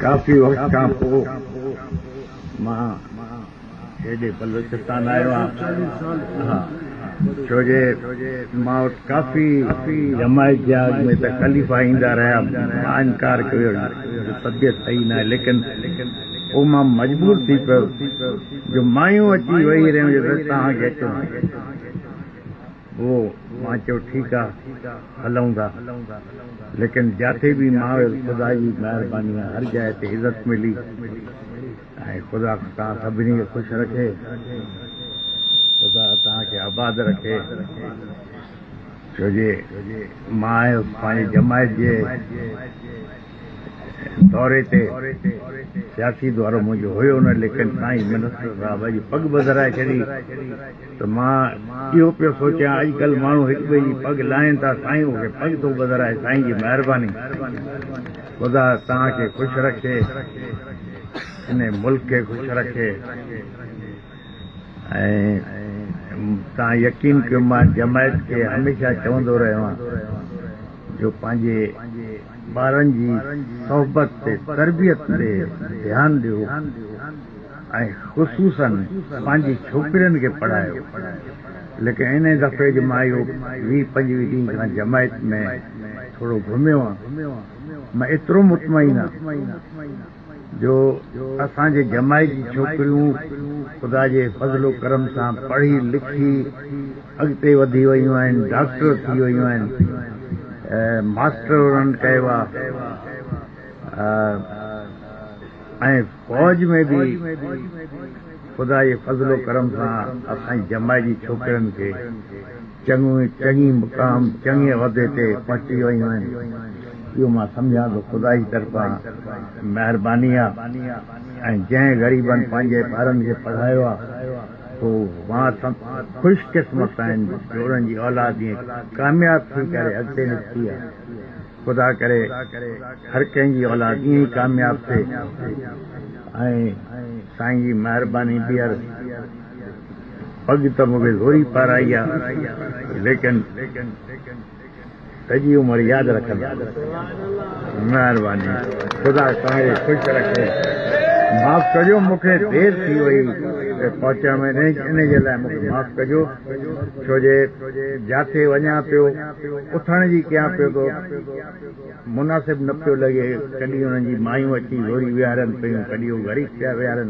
ڪافي وقت کان پوء مان هيڏي بلوچستان آيو آهيان، ڇو جو مان وٽ ڪافي جماعت جي آڳ ۾ تڪليف ايندا رهيا، مان انڪار ڪيو جو طبيعت صحيح ناهي، ليڪن پوء مان مجبور ٿي پيو جو مايون اچي ويهي رهيون جو بس توهان کي اچڻو آهي. هئو، مان چيو ٺيڪ آ هلئون ٿا، ليڪن جاتي به مان ويس خدا جي مهرباني سان هر جاء تي عزت ملي ۽ خدا توهان سڀني کي خوش رکي، خدا توهان کي آباد رکي، ڇو جي مان آهيس پنهنجي جماعت جي. دوري تي سياسي دورو منهنجو هيو نه ليڪن سائين منسٽر صاحب اڄ پڳ ٻڌرائي ڇڏي ته مان اهو پيو سوچيان اڄڪلهه ماڻهو هڪٻئي جي پڳ لاهين ٿا سائين مون کي پڳ ٿو ٻڌرائي سائين جي مهرباني خدا توهان کي خوش رکي ان ملڪ کي خوش رکي توهان يقين ڪيو مان جماعت کي هميشه چوندو رهيو آهيان جو پنهنجي ٻارن جي صحبت تي تربيت تي ڌيان ڏيو ۽ خصوصاً پنهنجي ڇوڪرين کي پڙهايو ليڪن انهي دفعي جي مايو ويهه پنجويهه ڏينهن کان جماعت ۾ ٿورو گهميو آ مان ايترو مطمئن آ جو اسان جي ڄمائي جي ڇوڪريون خدا جي فضل و ڪرم سان پڙهي لکي اڳتي وڌي ويون آهن ڊاڪٽر ٿي ويون آهن ماسٽر انهن ڪيو آهي ۽ فوج ۾ به خدا جي فضل و ڪرم سان اسان جي ڄمائي جي ڇوڪرين کي چڱيون چڱي مقام چڱي عهدي تي پهچي ويون آهن اهو مان سمجهان ٿو خدائي طرفان مهرباني آهي ۽ جنهن غريبن پنهنجي ٻارن کي پڙهايو آهي سو واسطن خوش قسمت آهن جو انهن جي اولاد ائين ڪامياب ٿي ڪري اڳتي نڪتي آهي خدا ڪري هر ڪنهن جي اولاد ائين ئي ڪامياب ٿئي ۽ سائين جي مهرباني ٻيهر پڳ ته مون کي زوري پارائي آ ليڪن سڄي عمر ياد رکندس. مهرباني خدا توهان کي خوش رکي معاف ڪجو مون کي دير ٿي وئي پهچڻ ۾ انهي جي لاء مون کي معاف ڪجو ڇو جي جاٿي وڃان پيو اٿڻ جي ڪيان پيو ٿو مناسب نه پيو لڳي ڪڏهن انهن جي مايون اچي زوري ويهارين پيون ڪڏهن هو غريب پيا ويهارين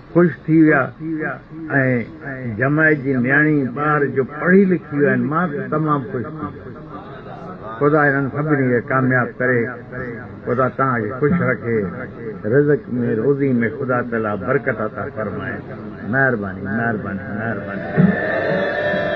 خوش ٿي ويا ۽ جماعت جي نياڻي ٻار جو پڙهي لکي ويا آهن مان ته تمام خوش ٿي ويس خدا هنن سڀني کي ڪامياب ڪري خدا توهان کي خوش رکي رزق ۾ روزي ۾ خدا تعالي برڪت عطا فرمائي مهرباني مهرباني مهرباني.